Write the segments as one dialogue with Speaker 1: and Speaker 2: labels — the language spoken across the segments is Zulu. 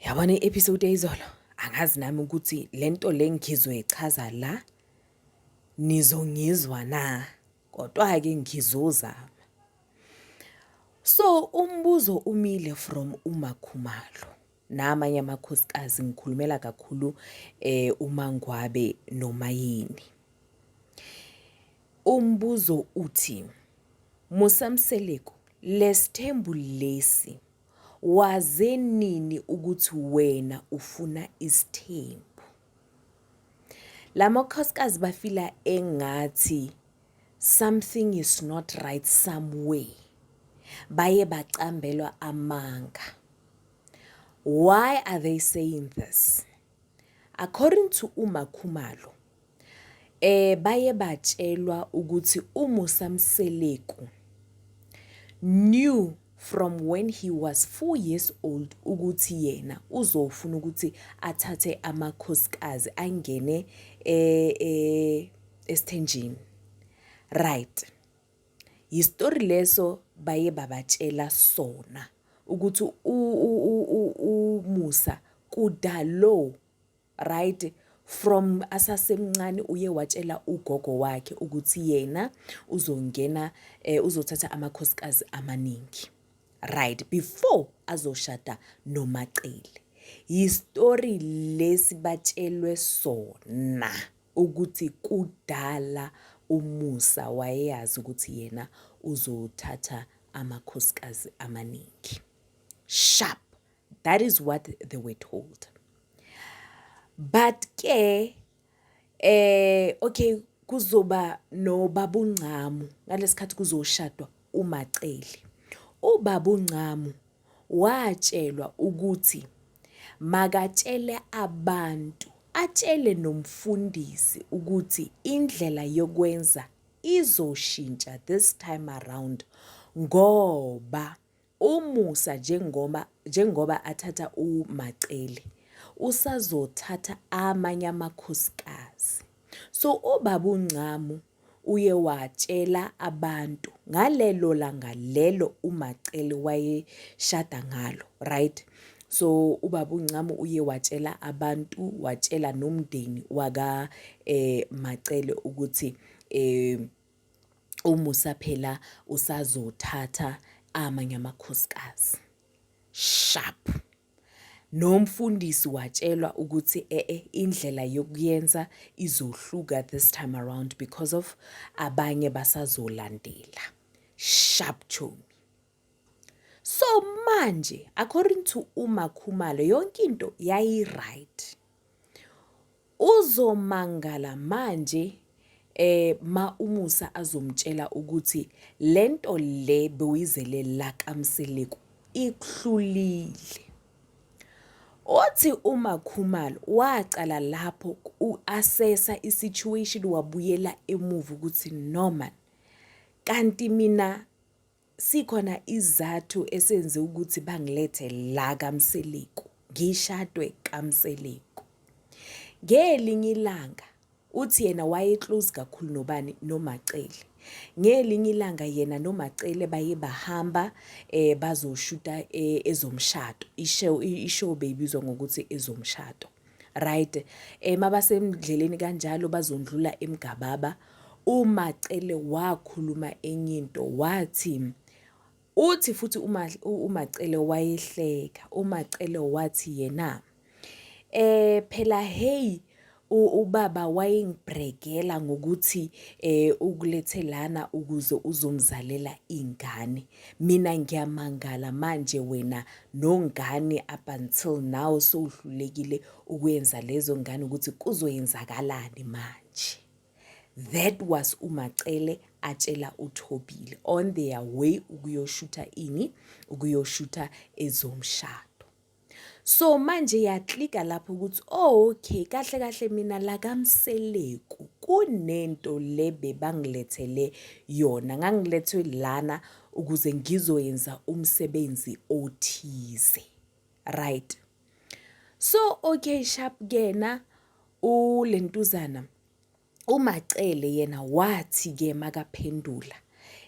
Speaker 1: Yabona i-episode eyizolo angazi nami ukuthi le nto le ngizoyichaza la nizongizwa na kodwa-ke ngizozama so umbuzo umile from umakhumalo namanye amakhosikazi ngikhulumela kakhulu eh umangwabe noma yini umbuzo uthi musamseleko lesithembu lesi Waze nini ukuthi wena ufuna isithembu? Lamakhosikazi bafila engathi something is not right somewhere. Baye bacambelwa amanga. Why are they saying this? According to uMakhumalo, Eh baye batshelwa ukuthi uMusa Mseleku knew from when he was 4 years old ukuthi yena uzofuna ukuthi athathe amakhosikazi angene eh, eh esithenjini right yisitori leso baye babatshela sona ukuthi umusa kudalo right from asasemncane uye watshela ugogo wakhe ukuthi yena uzongena eh, uzothatha amakhosikazi amaningi right before azoshada nomacele yistory lesi batshelwe sona ukuthi kudala umusa wayeyazi ukuthi yena uzothatha amakhosikazi amaningi sharp that is what they were told but ke eh okay kuzoba nobabungcamu ngalesikhathi kuzoshadwa umaceli ubabungcamu watshelwa ukuthi makatshele abantu atshele nomfundisi ukuthi indlela yokwenza izoshintsha this time around ngoba UMusa njengoba njengoba athatha uMacele usazothatha amanye amakhosikazi. So ubaba uNcamu uye watshela abantu ngalelo langa lelo uMacele wayeshada ngalo, right? So ubaba uNcamu uye watshela abantu, watshela nomndeni waka eh Macele ukuthi eh umusa phela usazothatha amanye amakhosikazi sharp nomfundisi watshelwa ukuthi ee eh, indlela yokuyenza izohluka this time around because of abanye basazolandela sharp tune So manje according to uMakhumalo yonke into yayi right. Uzomangala manje eh ma umusa azomtshela ukuthi lento le bewuyizele la kamseleku ikuhlulile. Othi uma Khumalo waqala lapho uassessa isituation wabuyela emuva ukuthi normal kanti mina Sikhona izathu esenze ukuthi bangilethe la kaMseleku, ngishadwe kaMseleku. Ngelinye ilanga uthi yena waye-close kakhulu nobani noMacele. Ngelinye ilanga yena noMacele baye bahamba eh bazoshuta eh, ezomshado. Ishow ishow beyibizwa ngokuthi ezomshado. right um eh, mabasendleleni kanjalo bazondlula emgababa umacele wakhuluma enye into wathi uthi futhi umacele wayehleka umacele wathi yena eh phela hey ubaba wayengibhrekela ngokuthi eh ukulethe lana ukuze uzomzalela ingane Mina ngiyamangala manje wena nongane up until now sowuhlulekile ukwenza lezo ngane ukuthi kuzoyenzakalani manje. That was uMacele atshela uThobile on their way ukuyoshutha ini, ukuyoshutha ezomshado. So manje yaklika lapho ukuthi oh okay kahle kahle mina la kaMseleku kunento le bebangilethele yona ngangilethwe lana ukuze ngizoyenza umsebenzi othize right so okay sharp kena ulentuzana umacele yena wathi ke makaphendula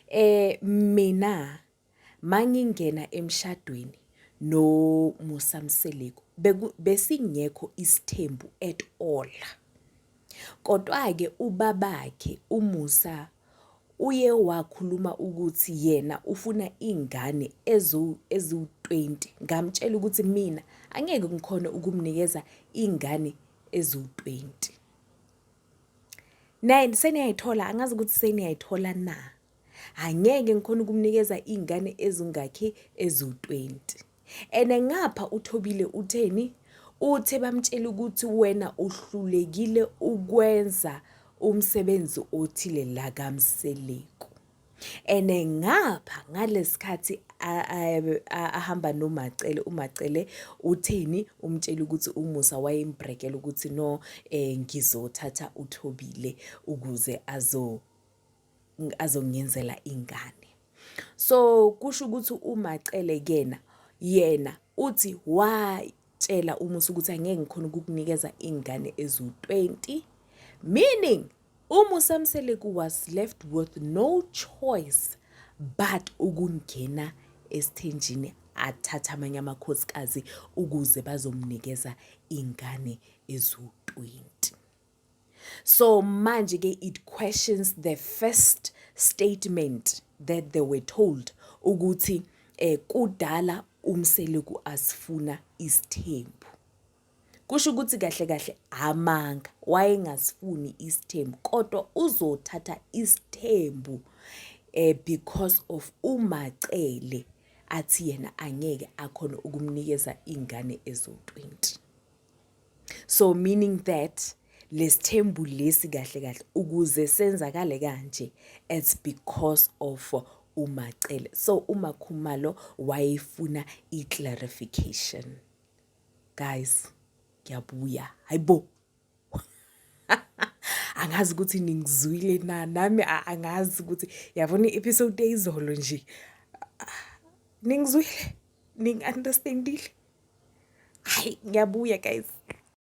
Speaker 1: eh mina Mangingena emshadweni no Musa Mseleku besingekho isithembu at all. Kodwa-ke ubabakhe uMusa uye wakhuluma ukuthi yena ufuna iy'ngane eziwu-twenty. Ngamtshela ukuthi mina angeke ngikhone ukumnikeza iy'ngane eziwu-twenty. Naye seniyayithola, angazi ukuthi seniyayithola na? angeke ngikhona ukumnikeza iy'ngane ezingakhi eziwu-20 and ngapha uthobile utheni uthe bamtshela ukuthi wena uhlulekile ukwenza umsebenzi othile la kamseleku and ngapha ngalesikhathi ahamba nomacele umacele utheni umtshela ukuthi umusa wayembrekela ukuthi no um ngizothatha uthobile ukuze azo azongiyenzela ingane so kusho ukuthi umacele kena yena uthi watshela umusa ukuthi angeke ngikhona ukukunikeza ingane ezu-20 meaning umusa mseleku was left with no choice but ukungena esithenjini athathe amanye amakhosikazi ukuze bazomnikeza ingane ezu-20 So manje ke it questions the first statement that they were told ukuthi eh kudala umseleku asifuna isithembu. Kusho ukuthi kahle kahle amanga wayengasifuni isithembu kodwa uzothatha isithembu eh because of umacele athi yena angeke akhona ukumnikeza ingane ezo 20. so meaning that lesithembu lesi kahle kahle ukuze senzakale kanje it's because of umacele so umakhumalo wayefuna i-clarification guys ngiyabuya hayibo angazi ukuthi ningizwile na nami angazi ukuthi yabona i-episode eyizolo nje ah, ningizwile ningi-understand-ile hayi ngiyabuya guys